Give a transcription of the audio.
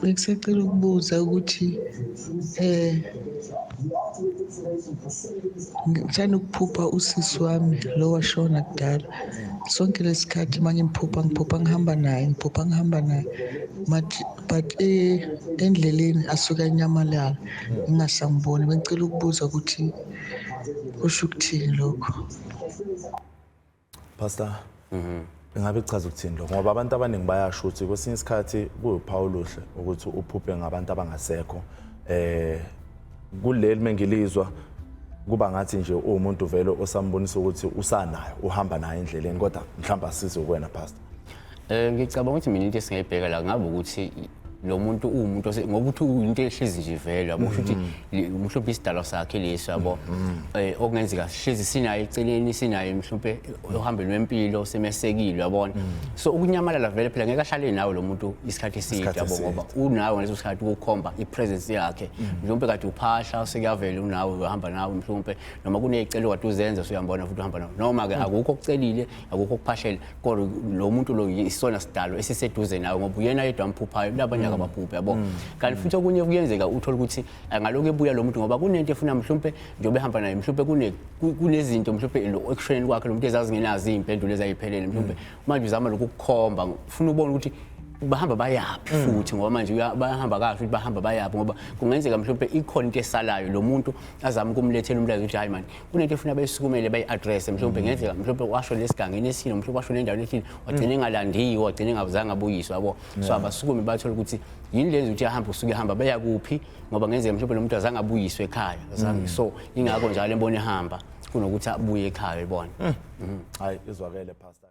Bengisacela ukubuza ukuthi eh ngithanda ukuphupha usisi wami lo washona kudala sonke lesikhathi uma ngimphupha ngiphupha ngihamba naye ngiphupha ngihamba naye but eh, endleleni asuke anyamalala ngingasamboni bengicela ukubuza ukuthi kusho ukuthini lokho Pastor. Mhm. Ingabe kuchaza ukuthini lokho ngoba abantu abaningi bayasho ukuthi kwesinye isikhathi kuwuphawu oluhle ukuthi uphuphe ngabantu abangasekho eh kuleli mengilizwa kuba ngathi nje uwumuntu vele osambonisa ukuthi usanayo uhamba naye endleleni kodwa mhlawumbe asize kuwena pastor Eh ngicabanga ukuthi mina into esingayibheka la ngabe ukuthi lo muntu uwumuntu ngoba uthi into ehlezi nje vele yabo ukuthi mm-hmm. mhlawumbe isidalwa sakhe lesi yabo mm-hmm. eh okungenzeka sihlezi sinayo eceleni sinayo mhlawumbe ohambeni lwempilo semesekile yabona mm-hmm. so ukunyamalala vele phela ngeke ahlale nawe lo muntu isikhathi eside yabo ngoba unawe ngaleso sikhathi ukukhomba ipresence yakhe mhlawumbe kade uphahla sekuyavela unawe uhamba nawe mhlawumbe noma kunezicelo kade uzenza usuyambona futhi uhamba nawe noma ke akukho okucelile akukho ukuphashela kodwa lo muntu lo isona sidalo esiseduze nawe ngoba uyena yedwa amphuphayo labanye mm. akabaphuphi yabo mm. kanti futhi okunye kuyenzeka uthola ukuthi angalokhu ebuya lo muntu ngoba kunento efuna mhlawumbe njengoba ehamba naye mhlawumbe kunezinto mhlawumbe ekushoneni kwakhe lo muntu ezazingenazo iy'mpendulo ezayiphelele mhlawumbe mm. manje uzama lokhu kukhomba ufuna ubona ukuthi bahamba bayaphi mm. futhi ngoba manje bayahamba kahle ukuthi bahamba bayaphi ngoba kungenzeka mhlawumbe ikhona into esalayo lo muntu azama ukumlethela umlayezo ukuthi hayi mani kunento efuna bayisukumele bayi-addresse mhlawumbe mm. ngenzeka mhlawumbe washo lesigangeni esino mhlawumbe washo nendaweni ethile wagcina mm. engalandiwe wagcina engazange abuyiswe yabo so abasukume bathole ukuthi yini lenza ukuthi ahambe usuke ehamba beya kuphi ngoba ngenzeka mhlawumbe lo muntu azange abuyiswe ekhaya mm. so ingakho njalo embona ehamba kunokuthi abuye ekhaya ibona hayi izwakele pastor